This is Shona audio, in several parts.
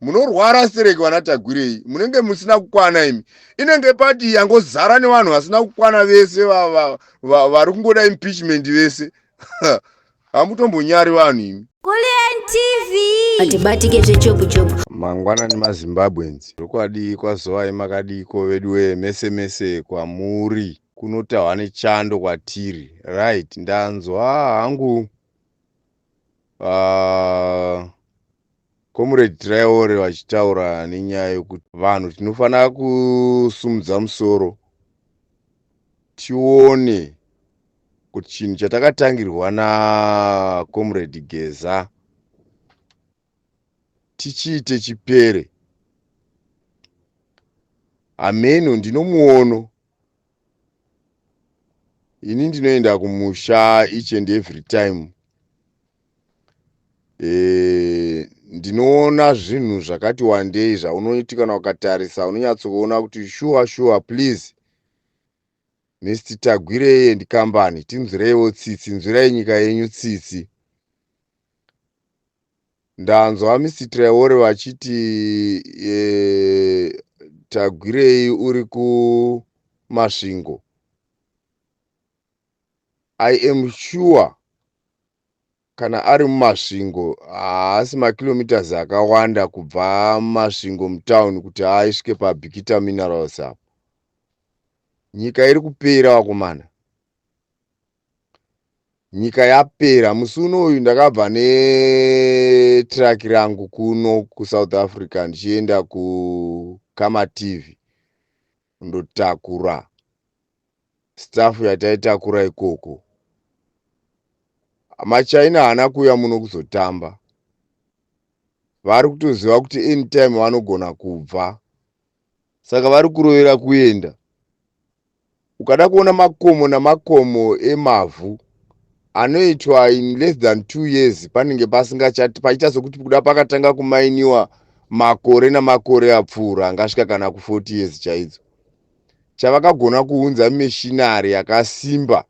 munorwara stereki vana tagwirei munenge musina kukwana imi inenge pati yangozara nevanhu vasina kukwana vese vari kungoda impeachment vese hamutombonyari vanhu imi hatibatike zvechopuchopu mangwana nemazimbabwens zvokwadi kwazovai makadiko veduwe mese mese kwamuri kunotahwa nechando kwatiri right ndanzwa hangu uh, comrade traore vachitaura nenyaya yekuti vanhu tinofanira kusumudza musoro tione kuti chinhu chatakatangirwa nacomrade geza tichiite chipere hameno ndinomuono ini ndinoenda kumusha each and every time e, ndinoona zvinhu zvakati wandei zvaunoti kana ukatarisa unonyatsoona kuti shuwa shuwa please mist tagwirei and company tinzwireiwo tsitsi nzwirai nyika yenyu tsitsi Ndanzwa Mr Traore vachiti eh, Tagwirei uri kuMasvingo. I am sure kana ari muMasvingo haasi makilometers akawanda kubva Masvingo mutown kuti aisvike paBikita Minerals apo. Nyika iri kupera wakomana. nyika yapera musi unoyu ndakabva netraki rangu kuno kusouth africa ndichienda kukama tv ndotakura staff yataitakura ikoko machina haana kuuya muno kuzotamba vari kutoziva kuti anytime vanogona kubva Saka vari kurovera kuenda. Ukada kuona makomo namakomo emavhu anoitwa in less than two years panenge pasingachati paita sokuti kuda pakatanga kumainiwa makore namakore apfuura angasvika kana ku40 years chaidzo chavakagona kuunza mishinari yakasimba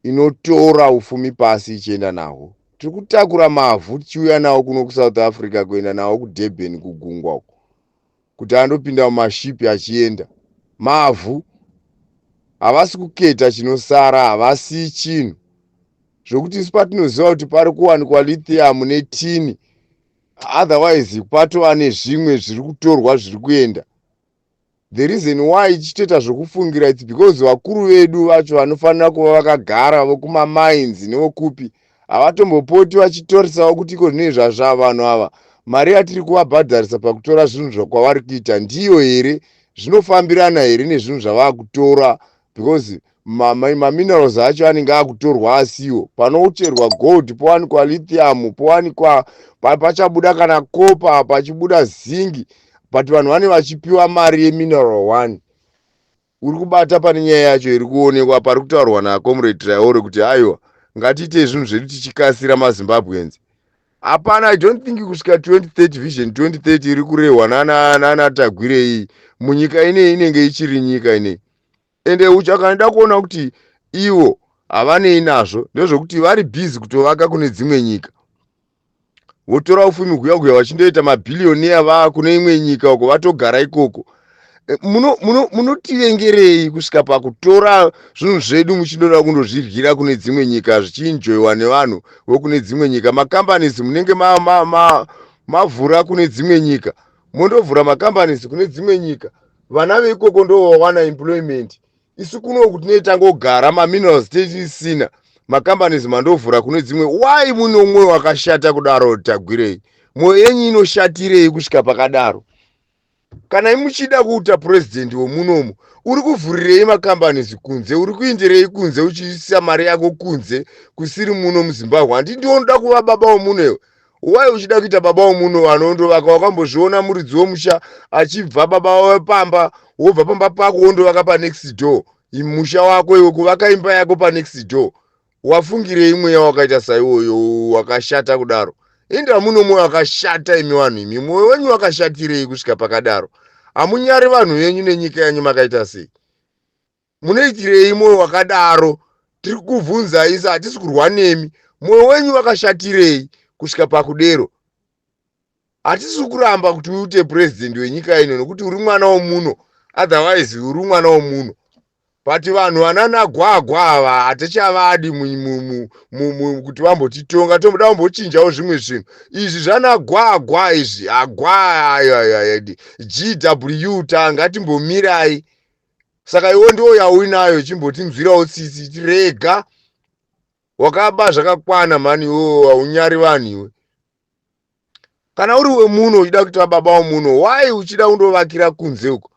inotora ufumi pasi ichienda nahwo tiri kutakura mavhu tichiuya nawo kuno kusouth africa kuenda nawo kudurban kugungwa uko kuti anopinda mumashipi achienda mavhu havasi kuketa chinosara havasi chinhu zvokuti isu patinoziva kuti pari kuwanikwa lithium netini otherwise patova nezvimwe zviri kutorwa zviri kuenda the reason why ichitoita zvokufungira its because vakuru vedu vacho vanofanira kuva vakagara vokumamines nevokupi havatombopoti vachitorisawo kuti iko zvinei zvazvaa vanhu ava mari yatiri kuvabhadharisa pakutora zvinhu zvakwavari kuita ndiyo here zvinofambirana here nezvinhu zvavakutora because maminerals ma acho anenge akutorwa asiwo panoucherwa gold powanikwa lithium powanikwa pachabuda kana copa pachibuda zingi but vanhu vane vachipiwa mari yemineral one Uri kubata pane nyaya yacho iri kuonekwa apa ari kutaurwa naComrade Traore kuti aiwa ngatiitei zvinhu zvedu tichikasira maZimbabweans. Hapana, I don't think kusvika 2030 vision 2030 iri kurehwa nana nana Tagwire iyi munyika ineyi inenge ichiri nyika ineyi. Ende uchakanoda kuona kuti ivo havanei nazvo ndezvekuti vari busy kutovaka kune dzimwe nyika. votora ufumi kuya kuya vachindoita mabhiliyoniya vaa kune imwe nyika uko vatogara ikoko Eh, muno- muno- munotivengerei kusvika pakutora zvinhu zvedu muchindoda kundozviryira kune dzimwe nyika zvichiinjoiwa nevanhu vokune dzimwe nyika macompanies munenge ma- ma- ma- mavhura kune dzimwe nyika mondovhura macompanies kune dzimwe nyika vana veikoko ndovawana employment isu kuno kutinei tangogara maminerals tichisina macompanies mandovhura kune dzimwe why mune umwe wakashata kudaro tagwirei mwoyo yenyu inoshatirei kusvika pakadaro kana imuchida kuita purezidhendi wemunomu uri kuvhurirei macompanies kunze uri kuindirei kunze uchiisa mari yako kunze kusiri muno muzimbabwe handi ndiwo ndoda kuva baba wemunhu ewe why uchida kuita baba womunhu vanhu wondovaka wakambozviona muridzi womusha achibva baba wawe pamba wobva pamba pako wondovaka panext door musha wako iwe kuvaka imba yako panext door wafungirei mweya wakaita saiwoyo wakashata kudaro inda muno mwoyo wakashata imi vanhu imi mwoyo wenyu wakashatirei kusvika pakadaro hamunyari vanhu venyu nenyika yanyu makaita sei munoitirei mwoyo wakadaro tiri kuvhunza isa hatisi kurwa nemi mwoyo wenyu wakashatirei kusvika pakudero hatisi kuramba kuti uite purezidhendi wenyika ino nokuti uri mwana womuno otherwise uri mwana womuno but vanhu vananagwagwa ava hatichavadi kuti vambotitonga toda kumbochinjawo zvimwe zvinhu izvi zvanagwagwa izvi agwa ayo ayo ayo gw ta ngatimbomirai saka iwo ndiwo yauinayo chimbotinzwirawo tsitsi tirega wakaba zvakakwana mhani iwo haunyari vanhu iwe kana uri wemuno uchida kuita baba womuno why uchida kundovakira kunze uko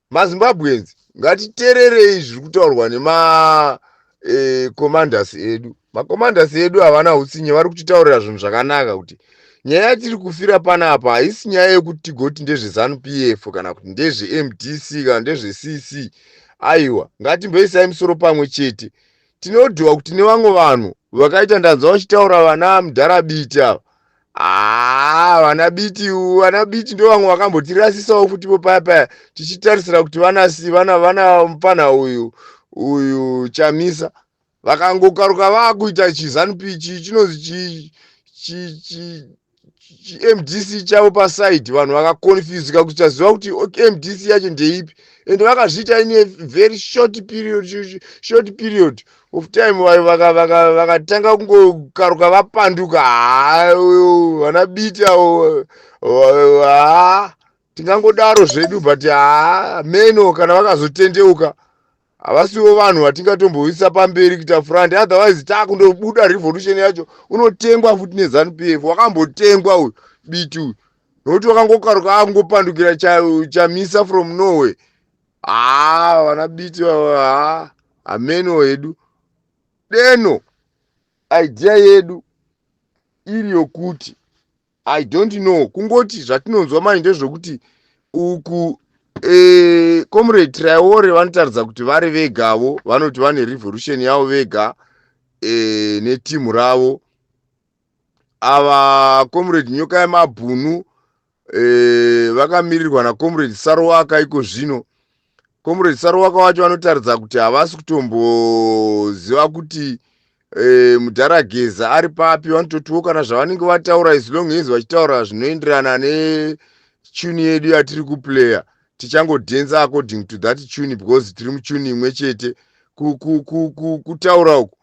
mazimbabweans ngatitererei zviri kutaurwa nemacommanders eh, edu Makomandasi edu havana hutsinye vari kutitaurira zvinhu zvakanaka kuti nyaya yatiri kufira pana apa haisi nyaya yekuti tigoti ndezvezanu p f kana kuti ndezvemdc kana ndezvecc aiwa ngatimboisai musoro pamwe chete tinodiwa kuti nevamwe vanhu vakaita ndanzwa vachitaura vana mudhara biti ava haa ah, vana biti vana biti ndo vamwe vakambotirasisawo futi po paya paya tichitarisira kuti vanasi vana vana mupfanha uyu uyu chamisa vakangokaruka vakuita chizanup ichi chinonzi chimdc chavo pasaidi vanhu vakaconfusika kuti chaziva kuti mdc yacho ndeipi and vakazviita ine very short period short period of time vakatanga kungokaruka vapanduka haa vana biti avo haa tingangodaro zvedu but haa meno kana vakazotendeuka havasiwo vanhu vatingatomboisa pamberi kuita front otherwise takundobuda revolution yacho unotengwa futi nezanu p f wakambotengwa uyu biti uyu nokuti wakangokaruka akungopandukira chamisa from norway haa ah, vana biti haa hameno hedu deno idea yedu iri yokuti i don't know kungoti zvatinonzwa manje ndezvekuti uku e, comrade traore vanotaridza kuti vari vegavo vanoti vane revolution yavo vega e, netimu ravo ava comrade nyoka yemabhunu e, vakamirirwa nacomrade sarowaka iko zvino comrade saruwaka wacho vanotaridza kuti havasi kutomboziva kuti e, mudhara geza ari papi vanototiwo kana zvavanenge vataura as long as vachitaura zvinoenderana netune yedu yatiri kuplayer tichangodhenza according to that tune because tiri mutune imwe chete kutaura uku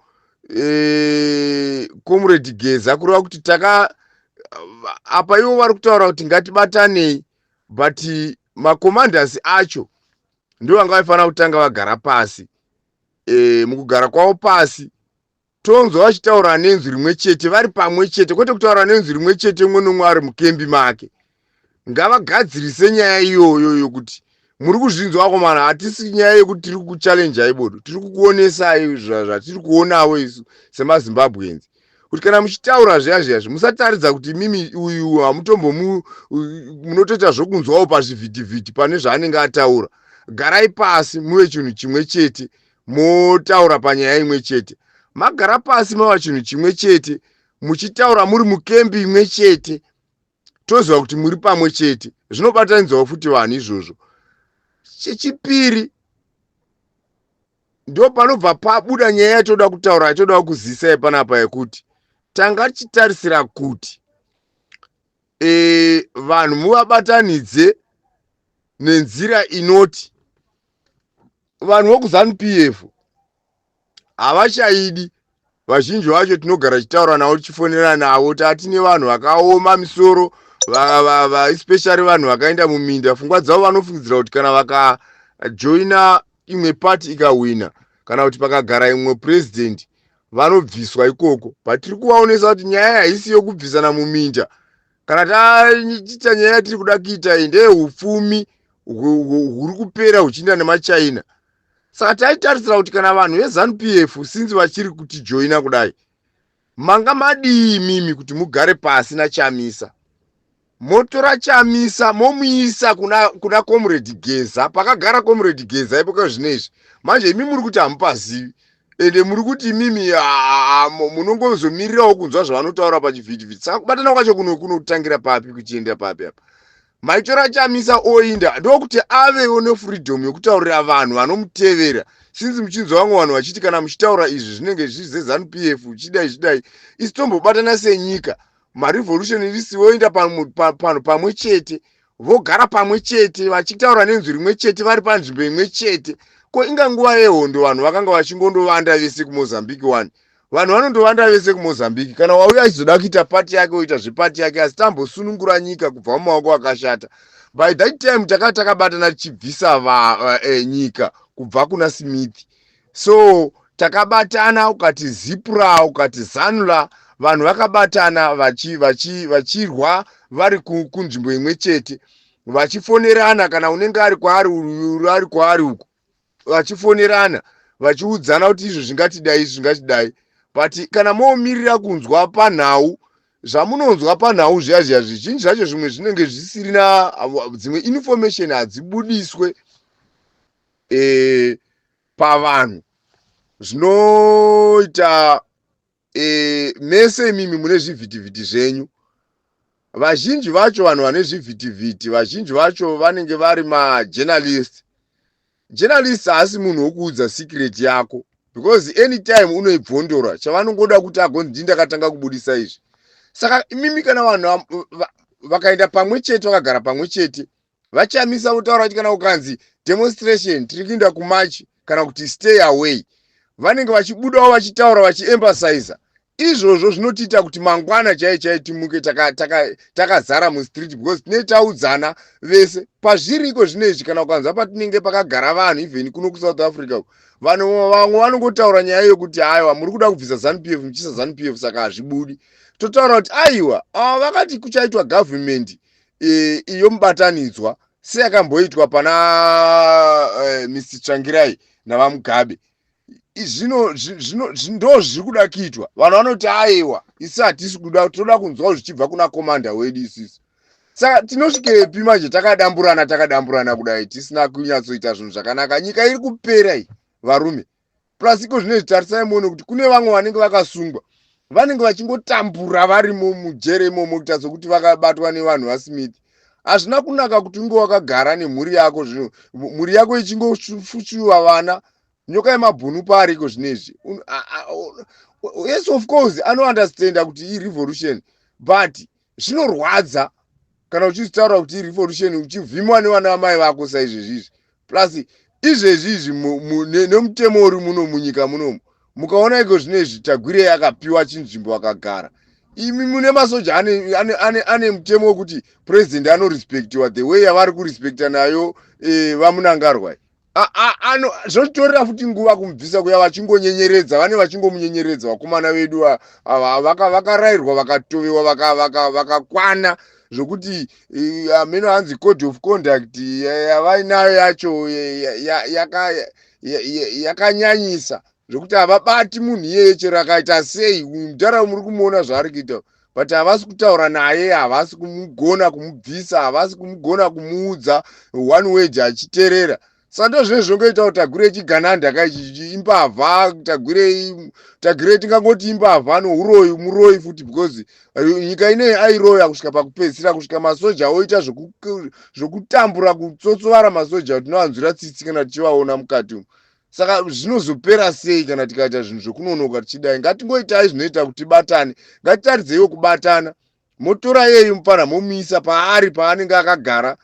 e, comrade geza kureva kuti taka apa ivo vari kutaura kuti ngatibatanei but macommanders acho ndivo vanga vaifanira kutanga vagara pasi e, mukugara kwavo pasi tonzwa vachitaura nenzwi rimwe chete vari pamwe chete kwete kutaura nenzwi rimwe chete umwe nomwe ari mukembi make ngavagadzirise nyaya iyoyo yokuti muri kuzvinzwa akomana hatisi nyaya yekuti tiri kuchallenjai bodo tiri kukuonesai zvatiri kuonawo isu semazimbabwenzi kuti kana muchitaura zviya zviya zvi musataridza kuti mimi uyu hamutombo munotoita zvokunzwawo pazvivhitivhiti pane zvaanenge ataura garai pasi muve chinhu chimwe chete motaura panyaya imwe chete magara pasi mava chinhu chimwe chete muchitaura muri mukembi imwe chete toziva kuti muri pamwe chete zvinobatanidzawo futi vanhu izvozvo chechipiri ndo panobva pabuda nyaya yatoda kutaura yatoda kuzisa yepanapa yekuti tanga tichitarisira kuti e, vanhu muvabatanidze nenzira inoti vanhu vokuzanu p f havachaidi vazhinji vacho tinogara tichitaura navo tichifonera navo tati nevanhu vakaoma misoro especially vanhu vakaenda muminda pfungwa dzavo vanofungidzira kuti kana vakajoina imwe party ikahwina kana kuti pakagara imwe president vanobviswa ikoko but tiri kuvaonesa kuti nyaya haisi yokubvisana muminda kana taita nyaya yatiri kuda kuita iyi ndeye upfumi huri kupera huchiinda nemachina saka taitarisira kuti kana vanhu vezanup f since vachiri kutijoina kudai manga madii imimi kuti mugare pasi nachamisa motora chamisa momuisa kuna, kuna comrade geza pakagara comrade geza ipo kazvino izvi manje imi muri kuti hamupazivi ende muri kuti imimi munongozomirirawo kunzwa zvavanotaura pachivhitivhiti saka kubatana kwacho kunokunotangira papi kuchiendera papi apa maitora chamisa oinda ndokuti avewo nefreedom yekutaurira vanhu vanomutevera sinzi muchinzwa vamwe vanhu vachiti kana muchitaura izvi zvinenge zviri zezanu p f chidai zvidai isi tombobatana senyika marevolution irisi voenda panhu pamwe chete vogara pamwe chete vachitaura nenzwi rimwe chete vari panzvimbo imwe chete ko inga nguva yehondo vanhu vakanga vachingondovanda vese kumozambique one vanhu vanondovanda vese kumozambique kana wauya achizoda kuita pati yake oita zvepati yake asi tambosunungura nyika kubva mumaoko akashata by that time takati takabatana tichibvisa va, eh, nyika kubva kuna smith so takabatana ukati zipra ukati zanula vanhu vakabatana vachirwa vachi, vachi vari kunzvimbo imwe chete vachifonerana kana unenge ari kwaari ari kwaari uko vachifonerana vachiudzana kuti izvo zvingatidai izvi zvingatidai but kana moomirira kunzwa panhau zvamunonzwa panhau zviya zviya zvizhinji zvacho zvimwe zvinenge zvisirina dzimwe information hadzibudiswe e, pavanhu zvinoita e, mese imimi mune zvivhitivhiti zvenyu vazhinji vacho vanhu vane zvivhitivhiti vazhinji vacho vanenge vari majournalist journalist haasi munhu wokuudza secret yako because anytime unoibvondora chavanongoda kuti agonzi ndii ndakatanga kubudisa izvi saka imimi kana vanhu vakaenda pamwe chete vakagara pamwe chete VaChamisa votaura kuti kana kukanzi demonstration tiri kuinda kumarch kana kuti stay away vanenge vachibudawo vachitaura vachiemphasiza izvozvo zvinotiita kuti mangwana chaiye chaiye timuke takazara taka, taka mustreet because tinee taudzana vese pazviri iko zvino izvi kana ukanzwa patinenge pakagara vanhu even kuno kusouth africa vanhu vamwe vanongotaura nyaya yokuti aiwa muri kuda kubvisa zanupf muchisa zanupf saka hazvibudi totaura kuti aiwa ava vakati kuchaitwa government e, iyo mubatanidzwa seyakamboitwa pana e, mr tsvangirai navamugabe zvino zvino ndo zviri kuda kuitwa vanhu vanoti aiwa isi hatisi kuda tinoda kunzwawo zvichibva kuna komanda wedu isisi saka tinosvikepi manje takadamburana takadamburana kudai tisina kunyatsoita zvinhu zvakanaka nyika iri kupera iyi varume plus iko zvinezvi tarisai muone kuti kune vamwe vanenge vakasungwa vanenge vachingotambura varimo mujere imomo kuita sokuti vakabatwa nevanhu vasmith hazvina kunaka kuti unge wakagara nemhuri yako zvino mhuri yako ichingofuchuva vana nyoka yemabhunu paariko zvinezvi yes of course anounderstanda kuti irevolution but zvinorwadza kana uchizvitaura kuti irevolution uchivhimwa nevana vamai vako saizvezvi izvi plus izvezvi izvi nemutemo uri muno munyika munomu mukaona iko zvine izvi tagwirei akapiwa chinzvimbo akagara imi mune masoja ane, ane, ane, ane mutemo wekuti president anorespectiwa the way yavari kurespecta nayo e, vamunangarwai ano zvotorera futi nguva kumubvisa kuya vachingonyenyeredza vane vachingomunyenyeredza vakomana vedu vakarairwa vakatovewa vakakwana zvokuti ameno hanzi code of conduct yavainayo yacho yakanyanyisa zvekuti havabati munhu iyeye chero akaita sei mudhara muri kumuona zvaari kuita but havasi kutaura naye havasi kumugona kumubvisa havasi kumugona kumuudza one wage achiterera sando zvinenge zvinongoita kuti tagure chigananda ka imbavha tagure tagure tingangoti imbavha nouroyi muroyi futi because eh, nyika inei airoya kusvika pakupedzisira kusvika masoja oita zvekutambura kutsotsovara masoja tinoanzwira tsitsi kana tichivaona mukati umu saka zvinozopera sei kana tikaita zvinhu zvekunonoka tichidai ngatingoitai zvinoita kuti tibatane ngatitaridzeiwo kubatana motora yeyu mupfanha momuisa paari paanenge akagara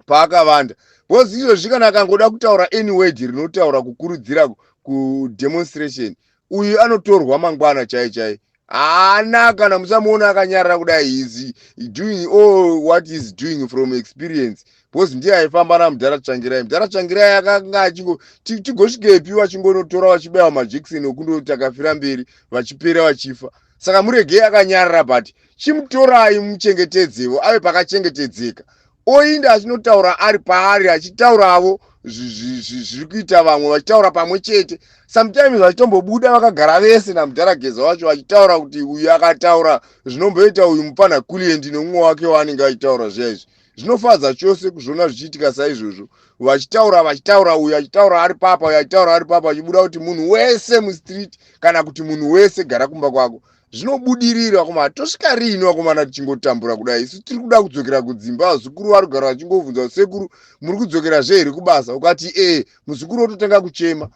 paakavanda bcause izvozvi kana akangoda kutaura any word rinotaura kukurudzira kudemonstration uyu anotorwa mangwana chai chai haana kana musamuona akanyarara kudai his doing all what is doing from experience because ndiye aifamba namudhara tsvangirai mudhara tsvangirai akanga achingo tigosvikepi vachingonotora vachibaiwa majekiseni okundotakafira mberi vachipera vachifa ti, saka muregei akanyarara but chimutorai muchengetedzevo ave pakachengetedzeka oinda achinotaura ari paari achitauravo zviri kuita vamwe vachitaura pamwe chete sometimes vachitombobuda vakagara vese namudhara geza wacho vachitaura kuti uyu akataura zvinomboita uyu mupana kuliendi nomumwe wake waanenge achitaura zviya izvi zvinofadza chose kuzviona zvichiitika saizvozvo vachitaura vachitaura uyu achitaura ari papa uyu achitaura ari papa achibuda kuti munhu wese mustreet kana kuti munhu wese gara kumba kwako zvinobudirira vakomana tosvika riini vakomana tichingotambura kudai isu tiri kuda kudzokera kudzimba vazukuru vari kugara vachingobvunza sekuru muri kudzokera zve here kubasa ukati ee muzukuru ototanga kuchema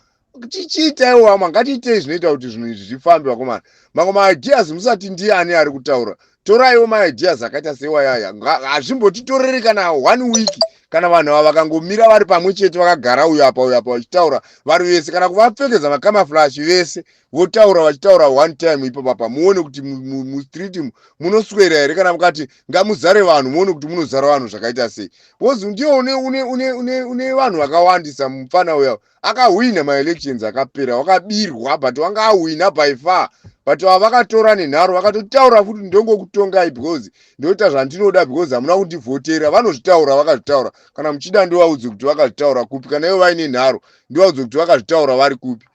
tichiitaiwo wama ngatiitei zvinoita kuti zvinhu izvi zvifambe vakomana mamwe maideas musati ndiani ari kutaura toraiwo maideas akaita seiwayaya hazvimbotitoreri kana one week kana vanhu ava vakangomira vari pamwe chete vakagara uyo apa uyo apa vachitaura vari vese kana kuvapfekedza makamaflash vese votaura vachitaura one time ipo papa muone kuti mustreet munoswera here kana mukati ngamuzare vanhu muone kuti munozara vanhu zvakaita sei bcause ndiwo une vanhu vakawandisa mupfana uya akahwina maelections akapera wakabirwa but wanga ahwina by far but ava vakatora nenharo vakatotaura futi ndongokutongai because ndoita zvandinoda because hamuna kundivhotera vanozvitaura vakazvitaura kana muchida ndovaudze kuti vakazvitaura kupi kana ivo vaine nharo ndovaudze kuti vakazvitaura vari kupi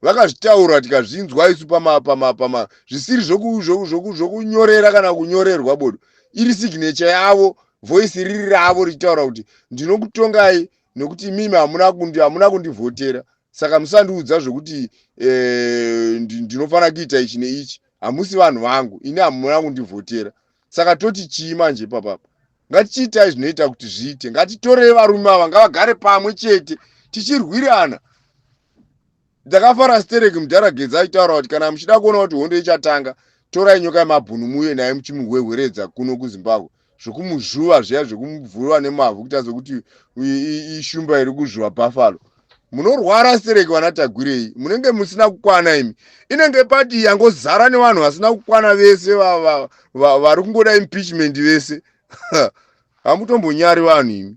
vakazvitaura tikazvinzwa isu pamapamapama zvisiri zvokunyorera kana kunyorerwa bodo iri signature yavo voice riri ravo richitaura kuti ndinokutongai nekuti imimi hamuna kundi hamuna kundivhotera saka musandiudza zvekuti eh, ndinofanira kuita ichi neichi hamusi vanhu vangu ini hamuna kundivhotera saka toti chii manje ipapapa ngatichiitai zvinoita kuti zviite ngatitorei varume ava ngavagare pamwe chete tichirwirana Ndakafara stereki mudhara Gedza aitaura kuti kana muchida kuona kuti hondo ichatanga torai nyoka yemabhunu muye naye muchimuhwehweredza kuno kuZimbabwe zvekumuzvuva zviya zvekumubvurwa nemavhu kuita sokuti ishumba iri kuzvuva buffalo munorwara stereki vana tagwirei munenge musina kukwana imi inenge pati yangozara nevanhu vasina kukwana vese vari kungoda impeachment vese hamutombonyari vanhu imi